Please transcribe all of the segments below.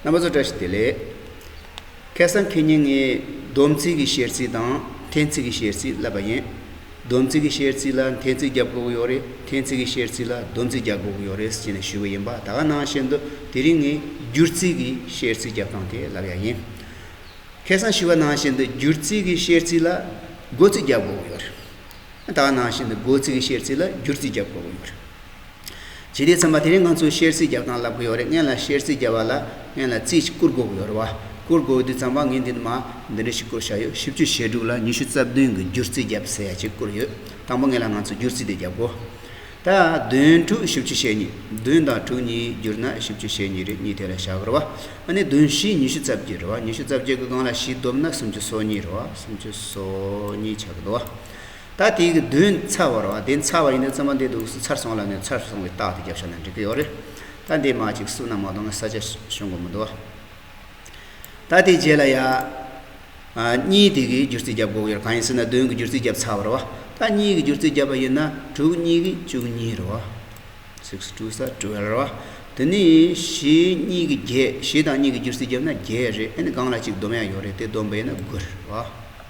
རྣམ་པ་ཚོ་བཀྲ་ཤིས་བདེ་ལེགས། ཁེ་སང་ཁེ་ཉིན་ངས་སྡོམ་ཚིག་གི་བཤེར་རྩིས་དང་འཐེན་ཚིག་གི་བཤེར་རྩིས་བསླབས་པ་ཡིན། སྡོམ་ཚིག་གི་བཤེར་རྩིས་ལ་འཐེན་ཚིག་རྒྱབ་དགོས་ཀྱི་ཡོད་རེད་འཐེན་ཚིག་གི་བཤེར་རྩིས་ལ་སྡོམ་ཚིག་རྒྱབ་དགོས་ཀྱི་ཡོད་རེད་ཅེས་ནས་ཞུས་པ་ཡིན་པ་ད་ག་ནང་བཤད་འདུག་དེ་རིང་ངས་སྒྱུར་རྩིས་ཀྱི་བཤེར་རྩིས་རྒྱབ་སྟངས་དེ་ལབ་ཡག་ཡིན། ཁེ་སང་ཞུས་པ་ནང་བཤད་འདུག་སྒྱུར་རྩིས་ཀྱི་བཤེར་རྩིས་ལ་སྒོ་ཚིག་རྒྱབ་དགོས་ཀྱི་ཡོད་རེད། ད་ག་ནང་བཤད་འདུག་སྒོ་ཚིག་གི་བཤེར་རྩིས་ལ་སྒྱུར་རྩིས་རྒྱབ་དགོས་ཀྱི་ཡོད་རེད། ཇི་སྟེ་ཚང་མ་དེ་རིང་ང་ཚོས་ཤེར་ཚིག་རྒྱག་སྟངས་ལབ་གི་ཡོད་རེད་ངན་ལ་ཤེར་ཚིག་རྒྱག་བ་ལ་ངན་ལ་རྩིས་ཤིག་བསྐུར་དགོས་གི་ཡོད་རེད་བ། བསྐུར་དགོས་དུས་ཚང་མ་ངས་འདི་འདྲ་མ་འདི་འདྲ་ཞིག་བསྐུར་བཞག་ཡོད་བཞི་བཅུ་ཞེ་དྲུག་ལ་ཉི་ཤུ་རྩ་བདུན་གི་བསྒྱུར་རྩིས་རྒྱབ་ཟེར་ཡ་གཅིག་བསྐུར་ཡོད་དང་པོ་ངེད་ལ་ང་ཚོས་བསྒྱུར་རྩིས་དེ་རྒྱབ་དགོས། ད་བདུན་དྲུག་བཞི་བཅུ་ཞེ་གཉིས་བདུན་དང་དྲུག་གཉིས་བསྒྱུར་ན་བཞི་བཅུ་ཞེ་གཉིས་རེ་གཉིས་དེ་ལ་བཞག་གི་རེད་བ། ཨ་ནི་བདུན་བཞི་ཉི་ཤུ་རྩ་བརྒྱད་རེད་བ་ཉི་ཤུ་རྩ་བརྒྱད་ཀྱི་སྒང་ལ་བཞི་བསྡོམས་ན་སུམ་ཅུ་སོ་གཉིས་རེད་བ་སུམ་ཅུ་སོ་གཉིས་ཆགས་གི་འདུག་བ། ད་དེའི་གི་དོན་ཚར་བ་རོ་དེ་ཚར་བ་ཡིན་ན་བཙོན་པ་འདི་དུག་གསུ་ཚར་སོང་ལ་ནི་ཚར་སོང་བའི་རྟགས་དེ་རྒྱབ་ཤ་ན་འགྲིག་གི་ཡོད་རེད་ད་འདི་མ་ཅིག་གསུ་ན་མ་གཏོང་ན་ས་ཆ་ཤོང་གི་མི་འདུག་ཨ། ད་དེའི་རྗེས་ལ་ཡ། ཨ་གཉིས་དེ་གི་སྒྱུར་རྩིས་རྒྱབ་དགོས་ཀྱི་རེད་གང་ཡིན་ཟེར་ན་བདུན་གི་སྒྱུར་རྩིས་རྒྱབ་ཚར་བ་རེད་བ་ད་གཉིས་གི་སྒྱུར་རྩིས་རྒྱབ་པ་ཡིན་ན་དྲུག་གཉིས་གི་བཅུ་གཉིས་རེད་བ། Six two ས Twelve རེད་བ་དེ་ནི་བཞི་གཉིས་གི་བརྒྱད་བཞི་དང་གཉིས་གི་སྒྱུར་རྩིས་རྒྱབ་ན་བརྒྱད་རེད་ཨེ་ནི་གང་ལ་ཅིག་བསྡོམས་ཡ་ཡོད་རེད་དེ་བསྡོམས་པ་ཡིན་ན་དགུ་རེད་བ།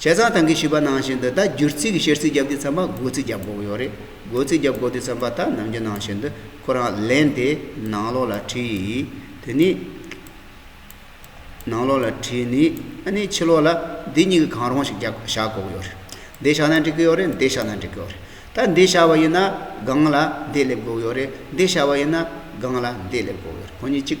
བྱས་ཙང་ཐང་གིས་ཞུས་པ་ནང་བཞིན་དུ་ད་བསྒྱུར་རྩིས་ཀྱི་བཤེར་རྩིས་བརྒྱབ་དུས་ཚན་པ་སྒོ་རྩིས་བརྒྱབ་དགོས་ཀྱི་ཡོད་རེད། སྒོ་རྩིས་བརྒྱབ་དགོས་དུས་ཚན་པ་དག་ནམ་རྒྱུན་ནང་བཞིན་དུ་ཁོ་རང་ལེན་ཏེ་ནང་ལོགས་ལ་བྲིས། དེ་ནས་ནང་ལོགས་ལ་བྲིས་ནས་ཨ་ནི་ཕྱི་ལོགས་ལ་འདི་གཉིས་ཀྱི་གང་རུང་ཞིག་བཞག་དགོས་ཀྱི་ཡོད་རེད། འདི་བཞག་ན་འགྲིག་གི་ཡོད་རེད་འདི་བཞག་ན་འགྲིག་གི་ཡོད་རེད། ད་འདི་བཞག་པ་ཡིན་ན་སྒང་ལ་འདི་སླེབས་དགོས་ཀྱི་ཡོད་རེད་འདི་བཞག་པ་ཡིན་ན་སྒང་ལ་འདི་སླེབས་དགོས་ཀྱི་ཡོད་རེད་ཁོ་གཉིས་གཅིག།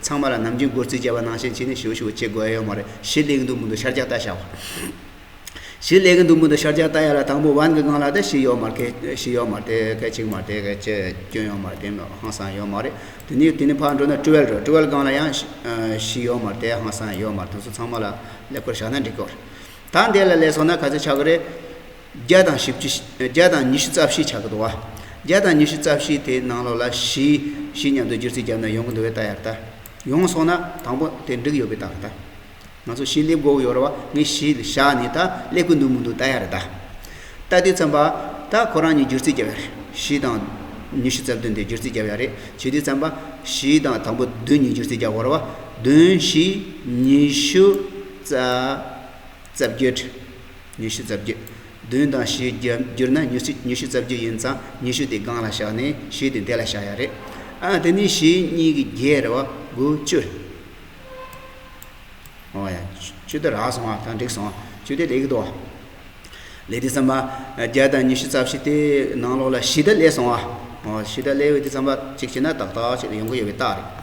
ཚང་མ་ལ་ནམ་རྒྱུན་སྒོར་རྩིས་བྱ་བ་ནང་བཞིན་བྱས་ནས་ཞོ་ཞུ་བ་བྱེད་དགོས་ཨ་ཡོད་མ་རེད་གཞི་ལས་གིན་འདུག་མི་འདུག་ཤར་རྒྱག་ལྟ་བྱ་བ། གཞི་ལས་གིན་འདུག་མི་འདུག་ཤར་རྒྱག་ལྟ་ཡ་ལ་དང་པོ་བན་གི་སྒང་ལ་དེ་ཞིག་ཡོད་མ་རེད་གད་ཞིག་ཡོད་མ་རེད་གད་ཅིག་མ་རེད་གད་ཅིག་སྐྱོན་ཡོད་མ་རེད་དེ་མིན་ཧང་སང་ཡོད་མ་རེད་དེ་ནས་དེ་ནས་ཕར་འགྲོ་ན་ཀྲི་ཝལ་རེད་ཀྲི་ཝལ་སྒང་ལ་ཡང་ཞིག་ཡོད་མ་རེད་དེ་ཧང་སང་ཡོད་མ་རེད་དེ་ཚོ་ཚང་མ་ལ་ལེགས་པོར་བཞག་ན་འགྲིག་གི་རེད་ད་འདི་ལ་ལས་སོང་ན་ག་ཚོད་ཆགས་ཀྱི་རེད། བརྒྱ་དང་བཞི་བཅུ། བརྒྱ་དང་ཉི་ཤུ་རྩ་བཞིའི་ཆ་གི་འདུ་བ། བརྒྱ་དང་ཉི་ཤུ་རྩ་བཞིའི་དེའི་ནང་ལོགས་ལ་བཞི། བཞི་མཉམ་དུ་བསྒྱུར་ཚིག་བརྒྱབ་ན་ཡོངས་ཀྱི་འདུ་བའི་རྟགས་ཡར་བལྟ། ཡོངས་སོང་ན་དང་པོ་དེ་འགྲིག་ཡོད་པའི་རྟགས་བལྟ། ང་ཚོ་བཞི་སླེབས་འགོ་ཡོར་བ་ངས་བཞི་བཞག་ནས་ད་སླེབས་ཀྱི་འདུག་མི་འདུག་རྟགས་ཡར་བལྟ། བལྟ་དུས་བརྩམས་པ། ད་ཁོ་རང་གཉིས་བསྒྱུར་ཚིག་བརྒྱབ་ཡ་རེད། བཞི་དང། ཉི་ཤུ་རྩ་བདུན་དེ་བསྒྱུར་ཚིག་བརྒྱབ་ཡ་རེད་བྱེད་དུས་བརྩམས་པ། བཞི་དང་དང་པོ་བདུན་གཉིས་བསྒྱུར་ཚིག་བརྒྱབ་འོར་བ། བདུན་བཞི་ཉི་ཤུ་རྩ། རྩ་བརྒྱུད། ཉི་ཤུ་རྩ་བརྒྱད། བདུན་དང་བཞི་བསྒྱུར་ན་ཉི་ཤུ་རྩ་བརྒྱད་ཡིན་ཙང་ཉི་ཤུ་དེ་སྒང་ལ་བཞག་ནས་བཞི་དེ་འདས་ལ་བཞག་ཡ་རེད། ཨ་དེ་ནི་བཞི་གཉིས་ཀྱི་བརྒྱད་རེད་བ། དགུ་བཅུ་རེད། ཨོ་ཡ། བཅུ་དེ་རག་སོང་ཨ་ད་འགྲིག་སོང་ཨ། བཅུ་དེ་ལེགས་འདུག་ཨ། ལེགས་དེ་བསམ་པ། བརྒྱད་དང་ཉི་ཤུ་རྩ་བཞི་དེ་ནང་ལོགས་ལ་བཞི་དེ་སླེབས་སོང་ཨ། ཨོ་བཞི་དེ་སླེབས་ཡོད་དེ་བསམ་པ་གཅིག་བྱས་ན་ཏག་ཏག་ཅིག་ཡོང་གི་ཡོད་པའི་རྟགས་རེད།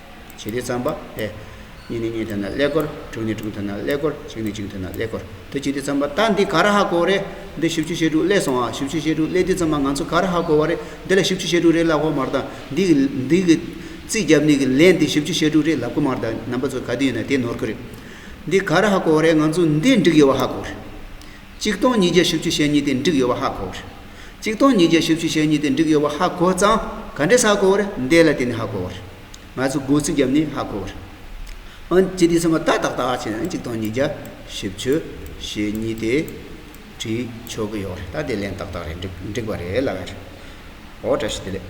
བྱེད་དེ་ཙམ་པ་ལས། གཉིས་ནས་གཉིས་ཐོན་ན་ཀླད་ཀོར། དྲུག་ནས་དྲུག་ཐོན་ན་ཀླད་ཀོར། གཅིག་ནས་གཅིག་ཐོན་ན་ཀླད་ཀོར། དུ་བྱེད་དེ་ཙམ་པ་ད་འདི་ག་ར་ཧ་གོ་རེད། འདི་བཞི་བཅུ་ཞེ་དྲུག་ཀླད་སོང་ཨ། བཞི་བཅུ་ཞེ་དྲུག་ཀླད་དེ་ཙམ་པ་ང་ཚོ་ག་ར་ཧ་གོ་བ་རེད། འདི་ལ་བཞི་བཅུ་ཞེ་དྲུག་རེད་ལབ་གོ་མ་གཏང། འདི་གི། འདི་གི། རྩིས་རྒྱབ་ནི་གི་ལན་འདི་བཞི་བཅུ་ཞེ་དྲུག་རེད་ལབ་གོ་མ་གཏང་རྣམ་པ་ཚོ་ག་དུས་ཡོད་ན་དེ་ནོར་གི་རེད། འདི་ག་ར་ཧ་གོ་བ་རེད་ང་ཚོ་འདི་འགྲིག་ཡོད་པ་ཧ་གོ་རེད། གཅིག་སྟོང་ཉིས་བརྒྱ་བཞི་བཅུ་ཞེ་གཉིས་ཏེ་འགྲིག་ཡོད་པ་ཧ་གོ། གཅིག་སྟོང་ཉིས་བརྒྱ་བཞི་བཅུ་ཞེ་གཉིས་ཏེ་འགྲིག་ཡོད་པ་ཧ་གོ་ཙང་ག་འདྲས་ཧ་གོ་རེད་འདས་ལ་དེ་ནི་ཧ་གོ། ང་ཚོས་སྒོ་ཚིགས་བརྒྱབ་ནས་ཧ་གོ། འོན་ཀྱི་དེ་ཚོ་མ་ཏག་ཏག་ཏག་བྱས་ན་གཅིག་སྟོང་ཉིས་བརྒྱ་བཞི་བཅུ་ཞེ་གཉིས་ཏེ་བྲིས་ཆོག་གི་ཡོད་རེད་ད་དེ་ལན་ཏག་ཏག་རེད་འགྲིག་པ་རེད་ལབ་ཨོ་བཀྲ་ཤིས་བདེ་ལེགས།